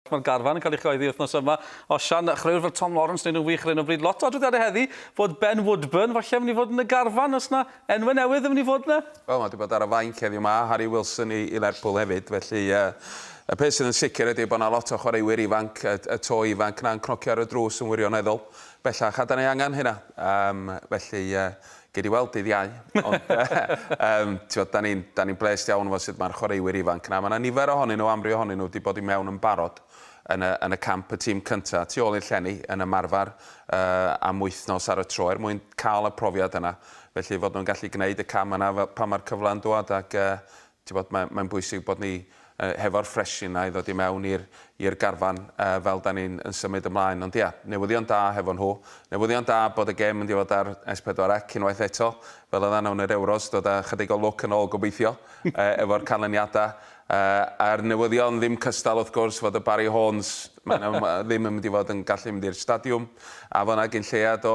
Mae'r garfan yn cael ei chyhoeddi wythnos yma. Osian, chwaraewr fel Tom Lawrence wneud yn wych ar hyn o bryd. Lot o adroddiadau heddi fod Ben Woodburn falle yn mynd i fod yn y garfan. Oes na enwau newydd yn mynd i fod yna? Wel, mae wedi bod ar y fainc heddiw 'ma, Harry Wilson i i Lerpwl hefyd. Felly yy y peth sydd yn sicr ydy bod yna lot o chwaraewyr ifanc, y y to ifanc 'na'n cnocio ar y drws yn wirioneddol. Bellach a 'dan ni angen hynna. Yym felly yy Gei di weld dydd Iau. Ond yym t'mod 'dan ni'n 'dan ni'n blêst iawn efo sut ma'r chwaraewyr ifanc 'na. Ma' 'na nifer ohonyn nhw, amryw ohonyn nhw, 'di bod i mewn yn barod yn y yn y camp y tîm cynta tu ôl i'r llenni yn ymarfer yy am wythnos ar y tro er mwyn ca'l y profiad yna. Felly fod nhw'n gallu gneud y cam yna fel pan ma'r cyfle'n dŵad ac yy Tibod, mae, mae'n bwysig bod ni uh, hefo'r ffresh yna i ddod i mewn i'r i'r garfan uh, fel da ni'n yn symud ymlaen. Ond ia, newyddion da hefo nhw. Newyddion da bod y gêm yn difod ar S4C unwaith eto, fel oedd nawn yr Euros, dod â chydig o lwc yn ôl gobeithio, uh, efo'r canlyniadau. Uh, a'r newyddion ddim cystal wrth gwrs fod y Barry Horns, maen ddim yn mynd i fod yn gallu mynd i'r stadiwm, a fo yna gyn lleiad o,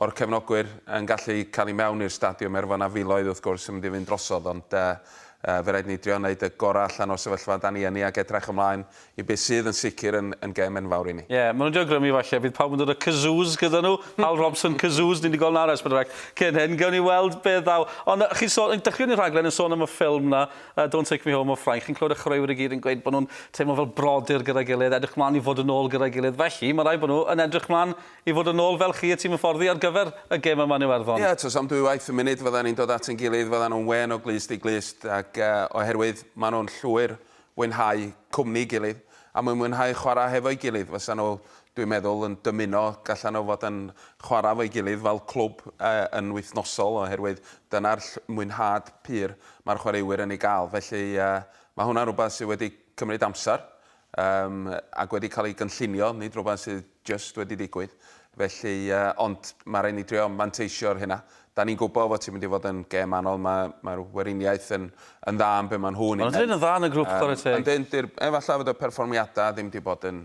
O'r cefnogwyr yn gallu cael i mewn i'r stadiwm, er fod 'na filoedd wrth gwrs yn mynd i fynd drosodd, ond yy yy fe raid ni drio neud y gora' allan o'r sefyllfa 'dan ni yn 'i ag edrach ymlaen i be' sydd yn sicr yn yn gêm enfawr i ni. Ie, ma' nw'n drio grymu falle, bydd pawb yn dod â kazoos gyda nhw, Hal Robson kazoos, ni 'di gweld 'na ar Esbern Araill cyn hyn, gewn ni weld beth ddaw. Ond yy chi'n sôn, yn dechreuon i'r rhaglen yn sôn am y ffilm 'na, yy Don't Take Me Home o Ffrainc, chi'n clywed y chwaraewyr i gyd yn gweud bo' nhw'n teimlo fel brodyr gyda'i gilydd, edrych mlan i fod yn ôl gyda'i gilydd, felly ma' raid bo' nhw yn edrych mlan I fod yn ôl fel chi y ti'n fy fforddi ar gyfer y gem yma'n Iwerddon. Ie, tros am dwywaith y munud fyddan ni'n dod at ein gilydd, fyddan nhw'n wên o glust i glust ac oherwydd maen nhw'n llwyr fwynhau cwmni'i gilydd a mwyn mwynhau chwarae hefo'i gilydd fysan nhw, dwi'n meddwl, yn dymuno gallan nhw fod yn chwarae efo'i gilydd fel clwb yn wythnosol oherwydd dyna'r mwynhad pur mae'r chwaraewyr yn ei gael. Felly, mae hwnna'n rhywbeth sydd wedi cymryd amser Yym, ac wedi cael ei gynllunio, nid rhywbeth sydd jyst wedi digwydd. Felly, yy, ond mae rhaid ni drio manteisio ar hynna. Da ni'n gwybod fod ti'n mynd i fod yn gêm anodd, mae, mae'r Weriniaeth yn, yn dda yn be maen nhw'n ei Maen nhw'n yn dda yn y grwp, chwarae teg. Ond yn dir, efallai fod y perfformiadau ddim wedi bod yn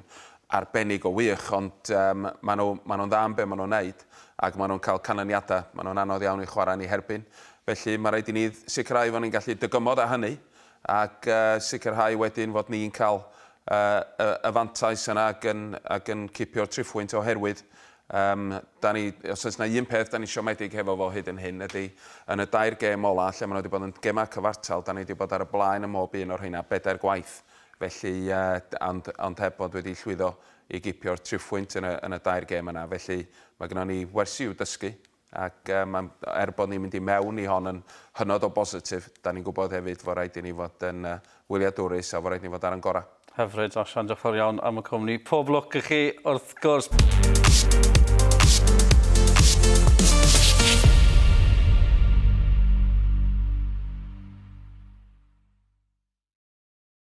arbennig o wych, ond um, maen nhw, maen nhw'n dda yn be maen nhw'n neud, ac maen nhw'n cael canlyniadau. Maen nhw'n anodd iawn i chwarae ni herbyn. Felly, mae rhaid i ni sicrhau fod ni'n gallu dygymod â hynny, ac sicrhau wedyn fod ni'n cael y fantais yna ac yn cipio'r triphwynt oherwydd os oes 'na un peth 'da ni siomedig hefo fo hyd yn hyn ydy yn y dair gêm ola' lle ma' nhw 'di bod yn gemau cyfartal 'da ni 'di bod ar y blaen ym mhob un o'r rheina bedair gwaith felly ond heb fod wedi llwyddo i gipio'r triphwynt yn y dair gêm yna felly ma' gynnon ni wersi i'w dysgu Ac mae'n, er bod ni'n mynd i mewn i hon yn hynod o bositif, dan ni'n gwybod hefyd fod rhaid i ni fod yn wyliadwrus a fod rhaid i ni fod ar ein gorau. Hyfryd, Osian, diolch yn fawr iawn am y cwmni. Pob lwc i chi, wrth gwrs.